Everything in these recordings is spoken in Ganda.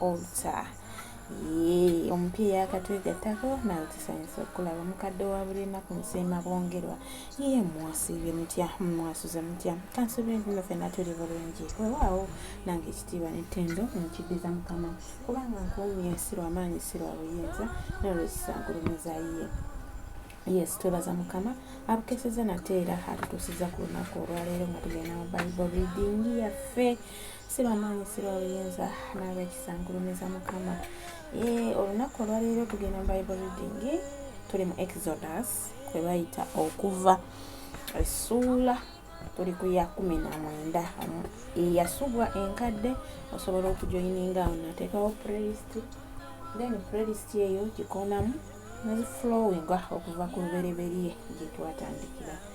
altar yee omupiira yakatwegattako nawe tusanyusa okulaba omukadde wa buli nnaku nsiima bwongerwa ye mwasiibye mutya mwasuze mutya kansuubire nti no fenna tuli bulungi wewaawo nange ekitiibwa nettendo nkiddiza mukama kubanga nkuumye si lwamaanyi si lwa buyinza nolwekisangulumiza ye yes twebaza mukama abukeseza nate era atutuusiza ku lunaku olwaleero nga tugenda mu bible reading yaffe si bamaanyi si babuyinza nabekisa nkulumiza mukama eh, olunaku olwaleero tugenda mu bible reading tuli mu exodus kwe bayita okuva essuula tuli ku ya kumi na mwenda eyasubwa enkadde osobola okujoyininga awo nateekawo playlist then playlist eyo gikonamu neziflowinga okuva ku lubereberye gyetwatandikira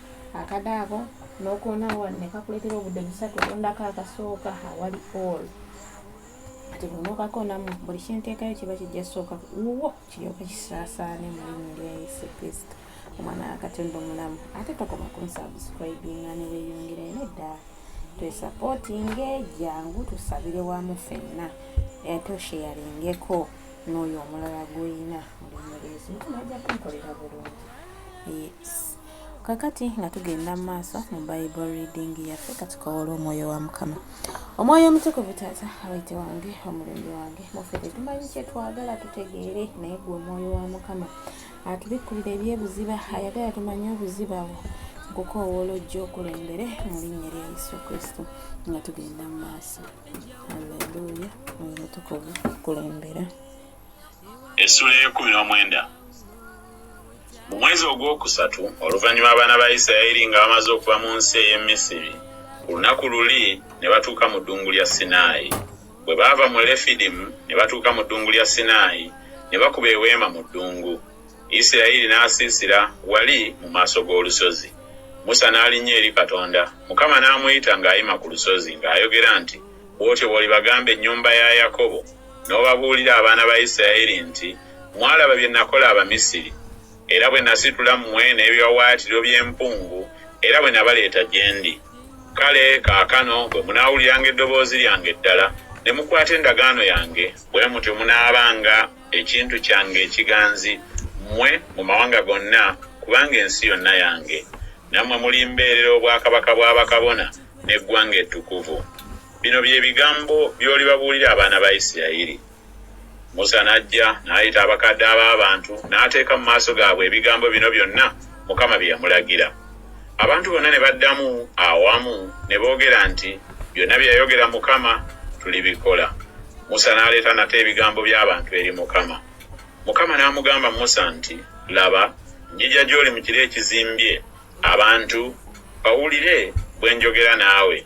akade ako nokoona wano nekakuletera obudde busatu ondako akasooka awali all kati bunokakoonamu buli kyenteekayo kiba kijja sooka wuwo kiryoka kisaasaane mulimu lya yesu kristo omwana wakatonda omulamu ate tokoma kunsubscribinga neweyongera ene ddala twesapotinge jangu tusabire wamu fenna ate osheyaringeko n'oyo omulala gwolina olinyereezi mukama ajja kunkolera bulungi yes kakati nga tugenda mu maaso mu bible reading yaffe katukawole omwoyo wa mukama omwoyo omutukuvu taata awete wange omulungi wange muffe tetumanyi kyetwagala tutegeere naye gwe omwoyo wa mukama atubikkulira ebyebuziba ayagala tumanye obuziba bwo nkukowoola ojja okulembere mu linnya lya yesu kristo nga tugenda mu maaso alleluya oyo mutukuvu kulembera essula ey'ekkumi n'omwenda mu mwezi ogwokusatu oluvannyuma abaana ba isirayiri nga bamaze okuva mu nsi ey'e misiri ku lunaku luli ne batuuka mu ddungu lya sinaayi bwe baava mu lefidimu ne batuuka mu ddungu lya sinaayi ne bakuba eweema mu ddungu isirayiri n'asiisira wali mu maaso g'olusozi musa n'alinnya eri katonda mukama n'amuyita ng'ayima ku lusozi ng'ayogera nti bw'otyo bw'olibagambe ennyumba ya yakobo N'obabuulira, abaana ba Isiraeri, nti, Mwalaba bye nakola Abamisiri, era bwe nasitula mmwe n'ebiwawaatiriro by'empungu, era bwe nabaleeta gye ndi. Kale kaakano bwe munaawuliranga eddoboozi lyange ddala, ne mukwata endagaano yange, bwe mutyo munaabanga ekintu kyange ekiganzi, mmwe, mu mawanga gonna, kubanga ensi yonna yange. Nammwe mulimbeerera obwakabaka bwa bakabona, n'eggwanga ettukuvu. Bino bye bigambo by'olibabuulira abaana ba Isirayiri. Musa n'ajja n'ayita abakadde ab'abantu n'ateeka mu maaso gaabwe ebigambo bino byonna Mukama bye yamulagira. Abantu bonna ne baddamu awamu ne boogera nti, Byonna bye yayogera Mukama tulibikola. Musa n'aleeta nate ebigambo by'abantu eri Mukama. Mukama n'amugamba Musa nti, Laba, njija gy'oli mu kire ekizimbye, abantu bawulire bwe njogera naawe.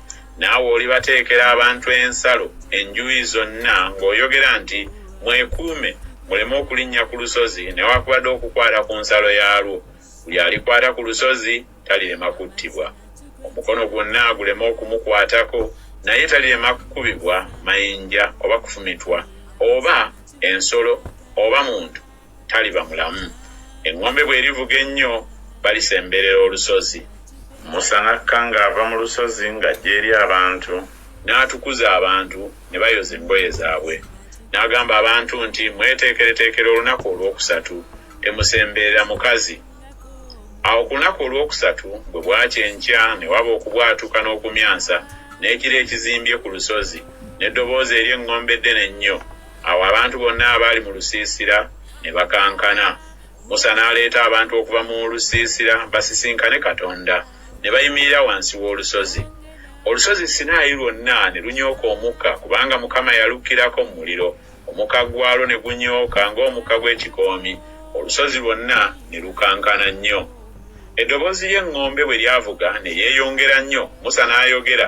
Naawe olibateekera abantu ensalo enjuyi zonna ng'oyogera nti, Mwekuume, muleme okulinnya ku lusozi newakubadde okukwata ku nsalo yaalwo. Buli alikwata ku lusozi talirema kuttibwa. Omukono gwonna guleme okumukwatako, naye talirema kukubibwa mayinja oba kufumitwa, oba ensolo oba muntu. taliba mulamu. Eŋŋombe bw'erivuga ennyo, balisemberera olusozi. Musa n'akka ng'ava mu lusozi ng'ajja eri abantu. N'atukuza abantu, ne bayoza engoye zaabwe. N'agamba abantu nti, Mweteekereteekere olunaku olwokusatu, temusemberera mukazi. Awo ku lunaku olwokusatu bwe bwakya enkya ne waba okubwatuka n'okumyansa, n'ekire ekizimbye ku lusozi, n'eddoboozi ery'eŋŋombe eddene ennyo. Awo abantu bonna abaali mu lusiisira ne bakankana. Musa n'aleeta abantu okuva mu lusiisira basisinkane Katonda, ne bayimirira wansi w'olusozi. Olusozi Sinaayi lwonna ne lunyooka omukka, kubanga Mukama yalukkirako mu muliro, omukka gwalwo ne gunyooka ng'omukka gw'ekikoomi, olusozi lwonna ne lukankana nnyo. Eddoboozi ly'eŋŋombe bwe lyavuga ne lyeyongera nnyo, Musa n'ayogera.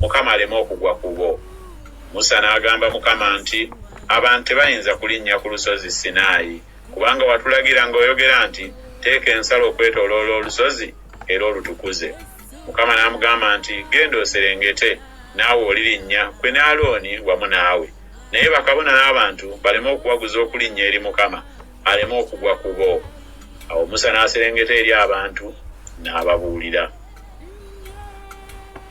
Mukama aleme okugwa ku bo. Musa n'agamba Mukama nti, Abantu tebayinza kulinnya ku lusozi Sinaayi, kubanga watulagira ng'oyogera nti, Teeka ensalo okwetooloola olusozi era olutukuze. Mukama n'amugamba nti, Genda oserengete, naawe olirinnya, ggwe ne Alooni wamu naawe. Naye bakabona n'abantu baleme okuwaguza okulinnya eri Mukama, aleme okugwa ku bo. Awo Musa n'aserengeta eri abantu n'ababuulira.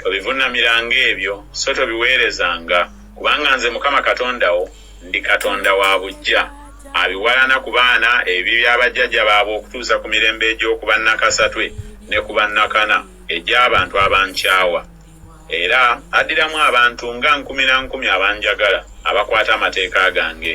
Tobivuunamiranga ebyo, so tobiweerezanga, kubanga nze Mukama Katonda wo ndi Katonda wa buggya, abiwalana ku baana ebibi bya bajjajja baabwe okutuusa ku mirembe egy'okuba nnakasatwe ne ku bannakana egy'abantu abankyawa, era addiramu abantu nga nkumi na nkumi abanjagala, abakwata amateeka gange.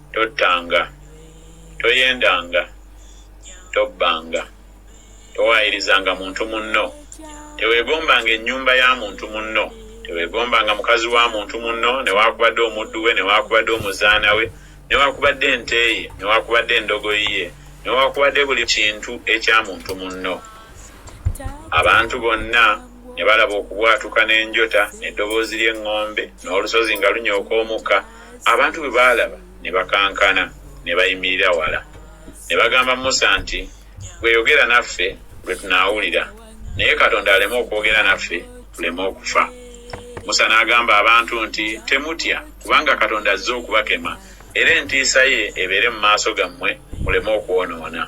Tottanga, toyendanga, tobbanga, towaayirizanga muntu munno, teweegombanga ennyumba ya muntu munno, teweegombanga mukazi wa muntu munno, newaakubadde omuddu we, newaakubadde omuzaana we, newaakubadde ente ye, newaakubadde endogoyi ye, newaakubadde buli kintu ekya muntu munno. Abantu bonna ne balaba okubwatuka n'enjota, n'eddoboozi ly'eŋŋombe, n'olusozi nga lunyooka omukka. Abantu bwe baalaba ne bakankana, ne bayimirira wala. Ne bagamba Musa nti, Ggwe yogera naffe, lwe tunaawulira, naye Katonda aleme okwogera naffe, tuleme okufa. Musa n'agamba abantu nti, Temutya, kubanga Katonda azze okubakema, era entiisa ye ebeere mu maaso gammwe, muleme okwonoona.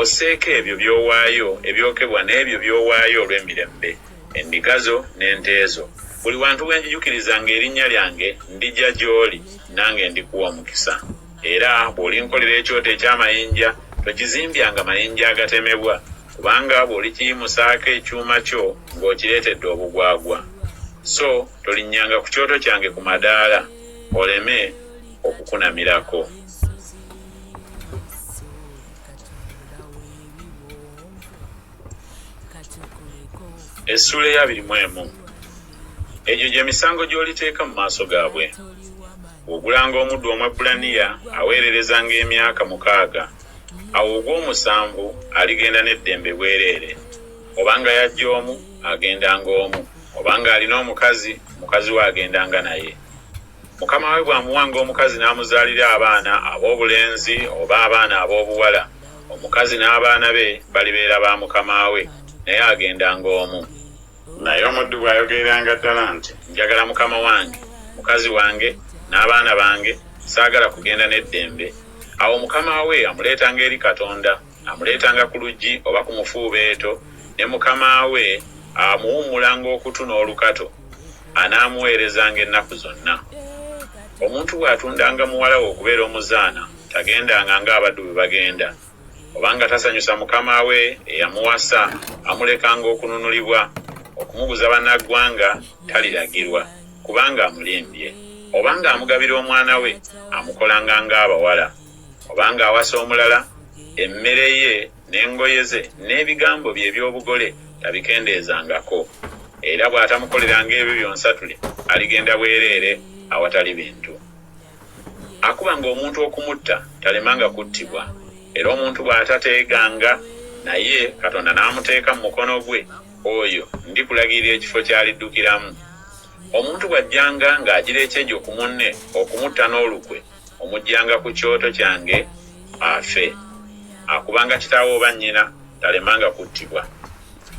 Osseeko ebyo by'owaayo ebyokebwa n'ebyo by'owaayo olw'emirembe, endiga zo n'ente zo. Buli wantu we njijukirizanga erinnya lyange, ndija gy'oli, nange ndikuwa omukisa. Era bw'olinkolera ekyoto eky'amayinja, tokizimbyanga mayinja agatemebwa, kubanga bw'olikiyimusaako ekyuma kyo ng'okireetedde obugwagwa. So tolinnyanga ku kyoto kyange ku madaala, oleme okukunamirako. essuula eyabiri mu emu egyo gye misango gy'oliteeka mu maaso gaabwe ogulanga omuddu omwebbulaniya aweererezanga emyaka mukaaga awo ogw'omusanvu aligenda n'eddembe bwereere obanga yajja omu agendanga omu obanga alina omukazi mukazi we agendanga naye Mukama we bw'amuwanga omukazi n'amuzaalira abaana ab'obulenzi oba abaana ab'obuwala, omukazi n'abaana be balibeera ba mukama we, naye agendanga omu. Naye omuddu bw'ayogereranga ddala nti, Njagala mukama wange, mukazi wange, n'abaana bange, saagala kugenda n'eddembe, awo mukama we amuleetanga eri Katonda. Amuleetanga ku luggi oba ku mufuubeeto, ne mukama we amuwummulanga okutu n'olukato, anaamuweerezanga ennaku zonna. Omuntu bw'atundanga muwala we okubeera omuzaana, tagendanga ng'abaddu bwe bagenda, oba nga tasanyusa mukama we eyamuwasa, amulekanga okununulibwa. Okumuguza bannaggwanga taliragirwa, kubanga amulimbye. Oba ng'amugabira omwana we, amukolanga ng'abawala. oba ng'awasa omulala, emmere ye n'engoye ze n'ebigambo bye eby'obugole tabikendeezangako, era bw'atamukoleranga ebyo byonsatule aligenda bwereere awatali bintu. Akubanga omuntu okumutta talemanga kuttibwa, era omuntu bw'atateeganga naye Katonda n'amuteeka mu mukono gwe, oyo ndikulagirira ekifo ky'aliddukiramu. Omuntu bw'ajjanga ng'agira ekyejo ku munne okumutta n'olukwe, omuggyanga ku kyoto kyange afe. Akubanga kitaawe oba nnyina talemanga kuttibwa.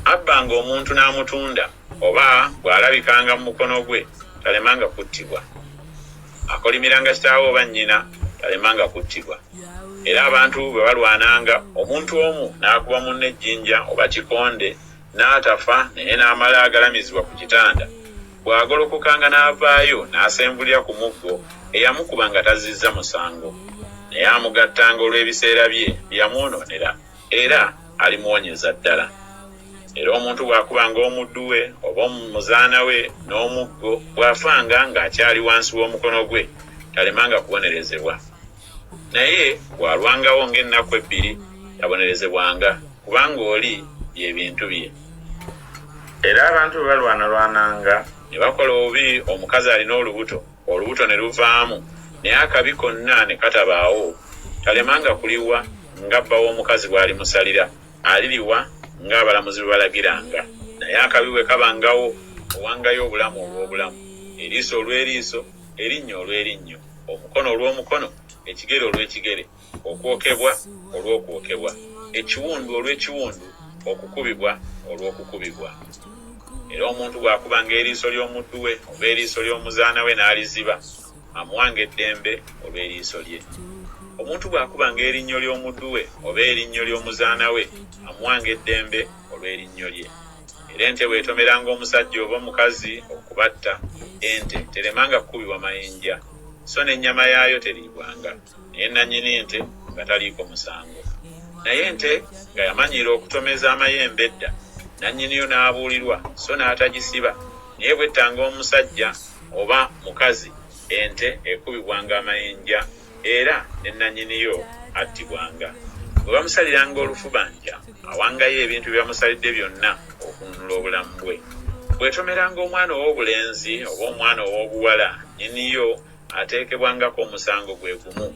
Abbanga omuntu n'amutunda oba bw'alabikanga mu mukono gwe talemanga kuttibwa. Akolimiranga kitaawe oba nnyina talemanga kuttibwa. Era abantu bwe balwananga, omuntu omu n'akuba munne ejjinja oba kikonde n'atafa naye n'amala agalamizibwa ku kitanda, bw'agolokokanga n'avaayo n'asenvulira ku muggo eyamukuba nga tazzizza musango naye amugattanga olw'ebiseera bye bye yamwonoonera era alimuwonyeza ddala. Era omuntu bw'akubanga omuddu we oba omuzaana we n'omuggo, bw'afanga ng'akyali wansi w'omukono gwe, talemanga kubonerezebwa. naye bw'alwangawo ng'ennaku ebbiri yabonerezebwanga, kubanga oli bye bintu bye. Era abantu bwe balwanalwananga ne bakola obubi, omukazi alina olubuto, olubuto ne luvaamu, naye akabi konna ne katabaawo, talemanga kuliwa nga bba w'omukazi bw'alimusalira, aliriwa ng'abalamuzi bwe balagiranga. Naye akabi bwe kabangawo, owangayo obulamu olw'obulamu, eriiso olw'eriiso. erinnya olw'erinnyo, omukono olw'omukono, ekigere olw'ekigere, okwokebwa olw'okwokebwa, ekiwundu olw'ekiwundu, okukubibwa olw'okukubibwa. Era omuntu bw'akubanga eriiso ly'omuddu we oba eriiso ly'omuzaana we n'aliziba, amuwanga eddembe olw'eriiso lye. Omuntu bw'akubanga erinnyo ly'omuddu we oba erinnyo ly'omuzaana we, amuwanga eddembe olw'erinnyo lye. era ente bw'etomeranga omusajja oba omukazi okubatta, ente teremanga kukubibwa mayinja, so n'ennyama yaayo teriibwanga, naye nannyini nte nga taliiko musango. Naye ente nga yamanyiira okutomeza amayembe edda, nannyiniyo n'abuulirwa so n'atagisiba, naye bw'ettanga omusajja oba mukazi, ente ekubibwanga amayinja. era ne nnannyini yo attibwanga. Bwe bamusaliranga olufubanja, awangayo ebintu bye bamusalidde byonna okununula obulamu bwe. Bw'etomeranga omwana ow'obulenzi oba omwana ow'obuwala, nnyini yo ateekebwangako omusango gwe gumu.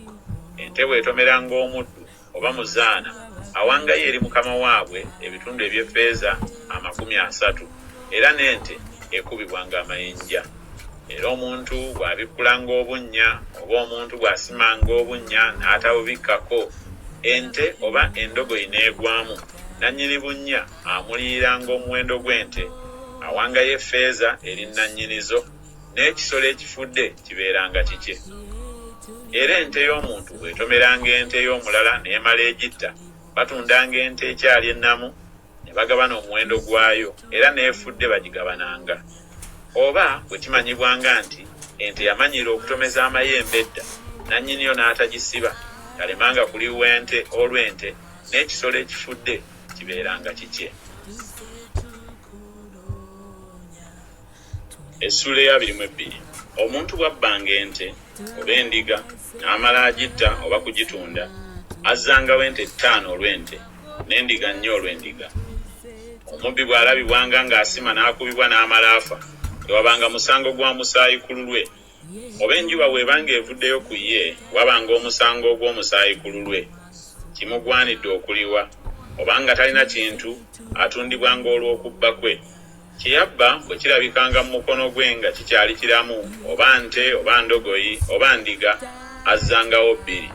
Ente bw'etomeranga omuddu, oba mu zaana, awangayo eri mukama waabwe ebitundu eby'effeeza amakumi asatu, era n'ente ekubibwanga amayinja. Era omuntu bw'abikkulanga obunnya, oba omuntu bw'asimanga obunnya n'atabubikkako, ente oba endogoyi n'egwamu, nannyini bunnya amuliiranga omuwendo gw'ente, awangayo effeeza eri nannyini zo. n'ekisolo ekifudde kibeeranga kikye. Era ente y'omuntu bw'etomeranga ente ey'omulala n'emala egitta, batundanga ente ekyali ennamu ne bagabana omuwendo gwayo, era n'efudde bagigabananga. Oba bwe kimanyibwanga nti ente yamanyiira okutomeza amayembe edda, nannyiniyo n'atagisiba, talemanga kuliwa ente, olwo ente n'ekisolo ekifudde kibeeranga kikye. essuula eyabiri mu ebbiri omuntu bwabbanga ente oba endiga n'amala agitta oba kugitunda azzangawo ente ttaano olw'ente n'endiga nnya olw'endiga omubbi bw'alabibwanga ng'asima n'akubibwa n'amala afa tewabanga musango gwa musaayi ku lulwe oba enjuba bw'eba ng'evuddeyo ku ye, waba ng'omusango ogw'omusaayi ku lulwe, kimugwanidde okuliwa, oba nga talina kintu, atundibwa ng'olw'okubba kwe. Kye yabba bwe kirabikanga mu mukono gwe nga kikyali kiramu, oba nte, oba ndogoyi, oba ndiga, azzangawo bbiri.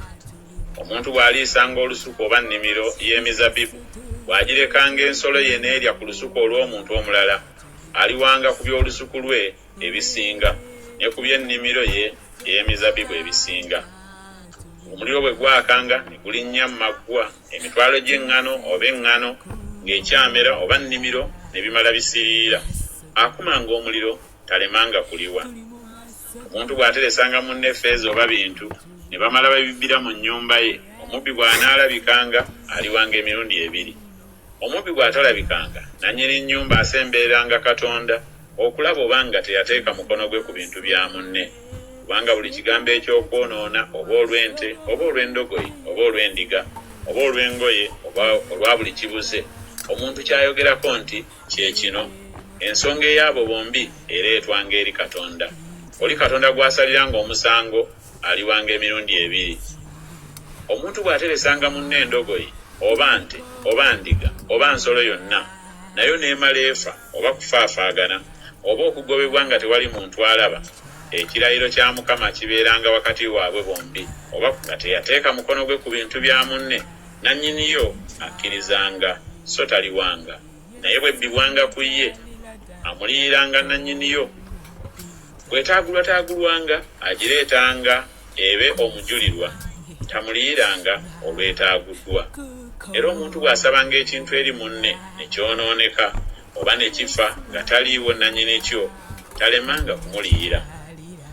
Omuntu bw'aliisanga olusuku oba nnimiro y'emizabibu, bw'agirekanga ensolo ye n'erya ku lusuku olw'omuntu omulala, aliwanga ku by'olusuku lwe, ebisinga, ne ku by'ennimiro ye ey'emizabbibu ebisinga. Omuliro bwe gwakanga, ne gulinnya mu maggwa, emitwalo gy'eŋŋano, oba eŋŋano ng'ekyamera, oba nnimiro, ne bimala bisiriira. Akumanga omuliro talemanga kuliwa. Omuntu bw'ateresanga munne ffeeza oba bintu, ne bamala babibbira mu nnyumba ye, omubbi bw'anaalabikanga, aliwanga emirundi ebiri. Omubbi bw'atalabikanga, nannyini nnyumba asembereranga Katonda okulaba oba nga teyateeka mukono gwe ku bintu bya munne, kubanga buli kigambo eky'okwonoona, oba olw'ente, oba olw'endogoyi, oba olw'endiga, oba olw'engoye, oba olwa buli kibuze, omuntu ky'ayogerako nti, Kye kino, ensonga ey'abo bombi ereetwanga eri Katonda. Oli Katonda gw'asaliranga omusango aliwanga emirundi ebiri. Omuntu bw'ateresanga munne endogoyi, oba nte, oba ndiga, oba nsolo yonna, nayo n'emala efa, oba kufaafaagana, oba okugobebwa nga tewali muntu alaba, ekirayiro kya Mukama kibeeranga wakati waabwe bombi. Oba nga teyateeka mukono gwe ku bintu bya munne, nannyiniyo akkirizanga, so taliwanga. naye bwe bbibwanga ku ye amuliyiranga nannyiniyo bwetaagulwataagulwanga agireetanga ebe omujulirwa tamuliyiranga olwetaaguddwa era omuntu bw'asabanga ekintu eri munne ne kyonooneka oba ne kifa nga taliiwo nannyini kyo talemanga kumuliyira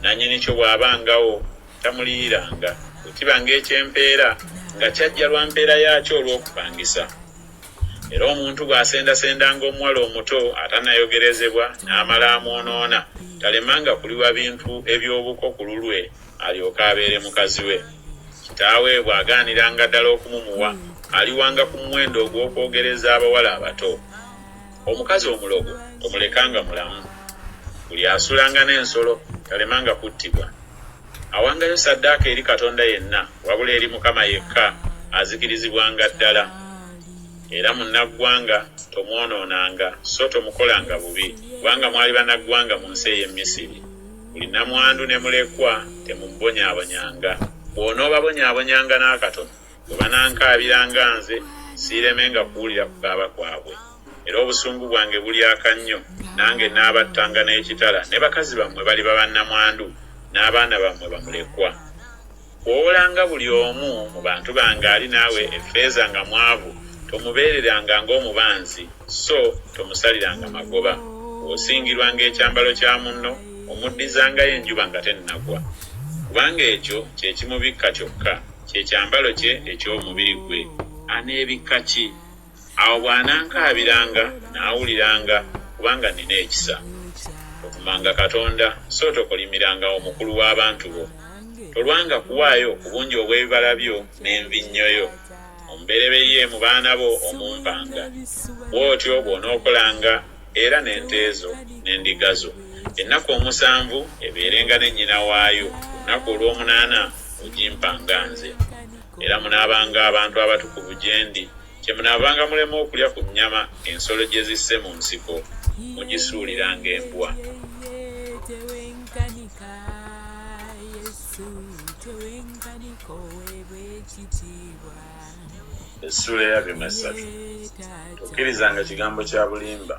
nannyini kyo bw'abangawo tamuliyiranga bwe kibanga eky'empeera nga kyajja lwa mpeera yaakyo olw'okupangisa Era omuntu bw'asendasendanga omuwala omuto atannayogerezebwa n'amala amwonoona, talemanga kuliwa bintu eby'obuko ku lulwe alyoke abeere mukazi we. Kitaawe bw'agaaniranga ddala okumumuwa, aliwanga ku muwendo ogw'okwogereza abawala abato. Omukazi omulogo tomulekanga mulamu. Buli asulanga n'ensolo talemanga kuttibwa. Awangayo saddaaka eri Katonda yenna wabula eri Mukama yekka azikirizibwanga ddala. Era munnaggwanga tomwonoonanga, so tomukolanga bubi, kubanga mwali bannaggwanga mu nsi ey'e Misiri. Buli nnamwandu ne mulekwa temumubonyaabonyanga. Bw'onoobabonyaabonyanga n'akatono, Bwe banankaabira nga nze, siiremenga kuwulira kukaaba kwabwe. Era obusungu bwange bulyaka nnyo, nange nnaabattanga n'ekitala, ne bakazi bammwe baliba bannamwandu, n'abaana bammwe bamulekwa. Bw'owolanga buli omu mu bantu bange ali naawe effeeza nga mwavu, tomubeereranga ng'omubanzi, so tomusaliranga magoba. Bw'osingirwanga ekyambalo kya munno, omuddizangayo enjuba nga tennagwa, kubanga ekyo kye kimubikka kyokka. Kye kyambalo kye eky'omubiri gwe. Aneebikka ki? Awo bw'anankaabiranga, nnaawuliranga, kubanga nnina ekisa. Tovumanga Katonda, so tokolimirangao mukulu w'abantu bo. Tolwanga kuwaayo ku bungi obw'ebibala byo n'envinnyo yo, omubereberye mu baana bo omumpanga. Bw'otyo bw'onookolanga era n'ente zo n'endiga zo ennaku omusanvu ebeerenga ne nnyina waayo lunaku olw'omunaana ogimpanga nze era munaabanga abantu abatukuvu gye ndi kye munaabanga mulema okulya ku nnyama ensolo gye zisse mu nsiko mugisuuliranga embwa essuula eyabyo mu essatu tokkirizanga kigambo kya bulimba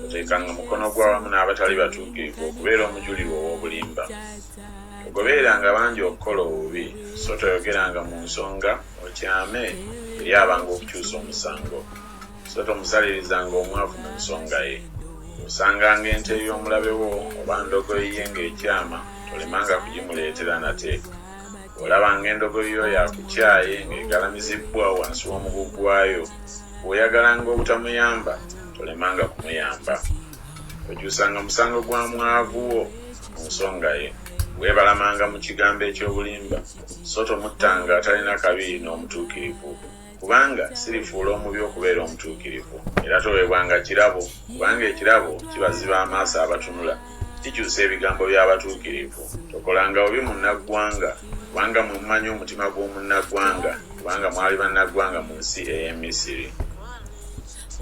oteekanga mukono gw'awamu n'abatali batuukirivu okubeera omujulirwa ow'obulimba togobeeranga bangi okukola obubi so toyogeranga mu nsonga okyame eri abanga okukyusa omusango so tomusalirizanga omwavu mu nsonga ye osanganga ente ey'omulabe wo oba ndogoyiye ng'ekyama tolemanga kugimuleetera nate olaba ng'endogoyi yo yakukyaye ng'egalamizibbwa wansi w'omugu gwayo bw'oyagalanga obutamuyamba tolemanga kumuyamba okyusanga musango gwa mwavu wo mu nsonga ye weebalamanga mu kigambo eky'obulimba so tomuttanga atalina kabi n'omutuukirivu kubanga sirifuula omubi okubeera omutuukirivu, era toweebwanga kirabo, kubanga ekirabo kibaziba amaaso abatunula, kikyusa ebigambo by'abatuukirivu. Tokolanga bubi munnaggwanga, kubanga mmwe mumanyi omutima gw'omunnaggwanga, kubanga mwali bannaggwanga mu nsi ey'e Misiri.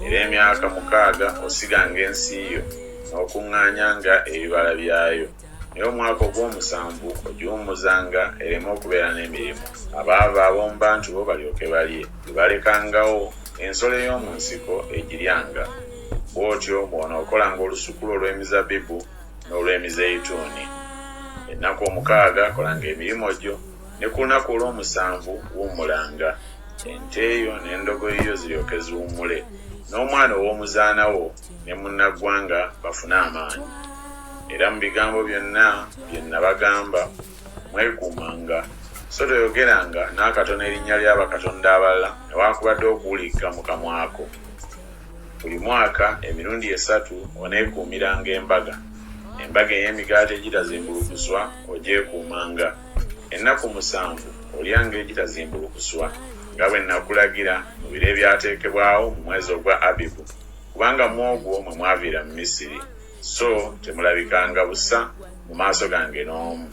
Era emyaka mukaaga osiganga ensi yo, n'okuŋŋaanyanga ebibala byayo. naye omwaka ogw'omusanvu ogiwummuzanga ereme okubeera n'emirimu, abaava ab'omu bantu bo balyoke balye. Bwe balekangawo ensolo ey'omu nsiko egiryanga. Bw'otyo bw'onookolanga olusuku lwo olw'emizabbibu n'olw'emizeyituuni. Ennaku omukaaga kolanga emirimu gyo, ne ku lunaku olw'omusanvu wummulanga, ente yo n'endogoyi yo ziryoke ziwummule, n'omwana ow'omuzaana wo ne munnaggwanga bafune amaanyi era mu bigambo byonna bye nnabagamba mwekuumanga so toyogeranga n'akatono erinnya lya bakatonda abalala newaakubadde okuwulikka mu kamwako buli mwaka emirundi esatu oneekuumiranga embaga embaga ey'emigaati egitazimbulukuswa ogyekuumanga ennaku musanvu olyanga egitazimbulukuswa nga bwe nnakulagira mu biro ebyateekebwawo mu mwezi ogwa abibu kubanga mu ogwo mwe mwaviira mu Misiri, so temulabikanga busa mu maaso gange n'omu.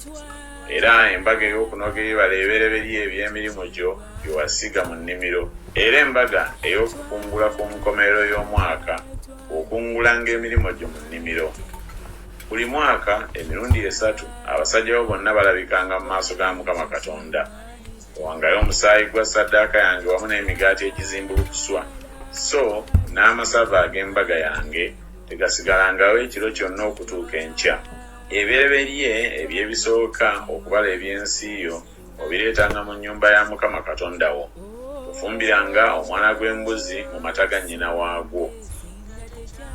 Era embaga ey'okunoga ebibala ebibereberye eby'emirimu gyo bye wasiga mu nnimiro, era embaga ey'okukungula ku nkomerero y'omwaka, okungulanga emirimu gyo mu nnimiro. Buli mwaka emirundi esatu abasajja bo bonna balabikanga mu maaso ga Mukama Katonda. Wangayo omusaayi gwa ssaddaaka yange wamu n'emigaati egizimbulukuswa, so n'amasavu ag'embaga yange tegasigalangawo ekiro kyonna okutuuka enkya. Ebibereberye eby'ebisooka okubala eby'ensi yo obireetanga mu nnyumba ya Mukama Katonda wo. Tofumbiranga omwana gw'embuzi mu mata ga nnyina waagwo.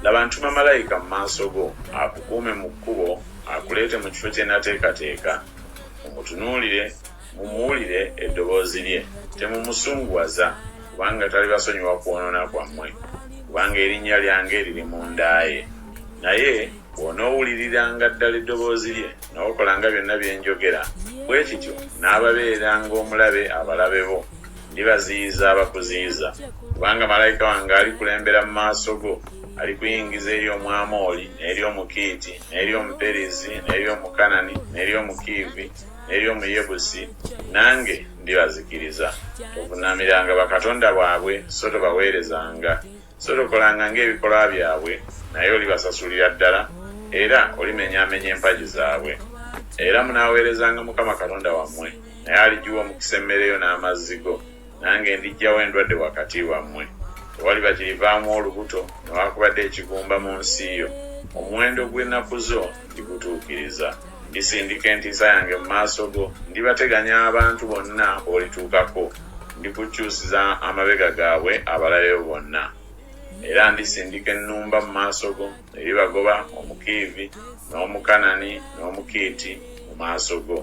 Laba ntuma malayika mu maaso go, akukuume mu kkubo, akuleete mu kifo kye nateekateeka. Mumutunuulire Mumuwulire eddoboozi lye, temumusunguwaza, kubanga talibasonyiwa kwonoona kwammwe, kubanga erinnya lyange liri mu nda ye. Naye bw'onoowuliriranga ddala eddoboozi lye, n'okolanga byonna bye njogera, bwe kityo nnaababeera ng'omulabe abalabe bo, ndibaziyiza abakuziyiza. Kubanga malayika wange alikulembera mu maaso go, alikuyingiza eri Omwamoli, n'eri Omukiiti, n'eri Omuperizi, n'eri Omukanani, n'eri Omukiivi, n'eby'omuyebusi nange ndibazikiriza. Tovuunamiranga bakatonda baabwe so tobaweerezanga, so tokolanga ng'ebikolwa byabwe, naye olibasasulira ddala era olimenyaamenya empagi zaabwe. Era munaaweerezanga Mukama Katonda wammwe, naye aligiwa omukisa emmere yo n'amazzi go. nange ndijjawo endwadde wakati wammwe, tewali bakirivaamu olubuto newaakubadde ekigumba mu nsi yo, omuwendo gw'ennaku zo ndigutuukiriza. Ndisindika entiisa yange mu maaso go, ndibateganya abantu bonna b'olituukako, ndikukyusiza amabega gaabwe abalabe bo bonna. Era ndisindika ennumba mu maaso go. eri bagoba omukiivi n'omukanani n'omukiiti mu maaso go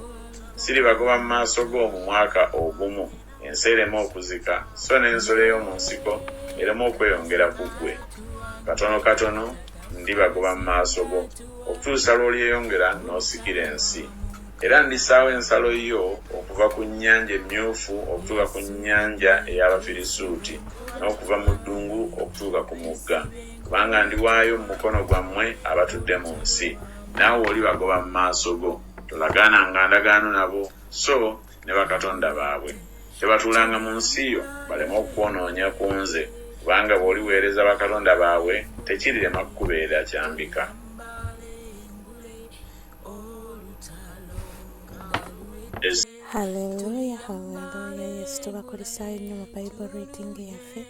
siribagoba mu maaso go mu mwaka ogumu ensi ereme okuzika so n'ensolo ey'omu nsiko ereme okweyongera ku ggwe katono katono ndibagoba mu maaso go okutuusa lw'olyeyongera n'osikira ensi era ndisaawo ensalo yo okuva ku nnyanja emmyufu okutuuka ku nnyanja ey'abafirisuuti n'okuva mu ddungu okutuuka ku mugga kubanga ndiwaayo mu mukono gwammwe abatudde mu nsi naawe oli bagoba mu maaso go tolagaana nga ndagaano nabo so ne bakatonda baabwe tebatuulanga mu nsi yo baleme okukwononya ku nze kubanga bw'oliweereza bakatonda baabwe tekirirema kukubeera kyambika Hallelujah, hallelujah. Yes, tubakulisaayo nnyo mu Bible reading yaffe.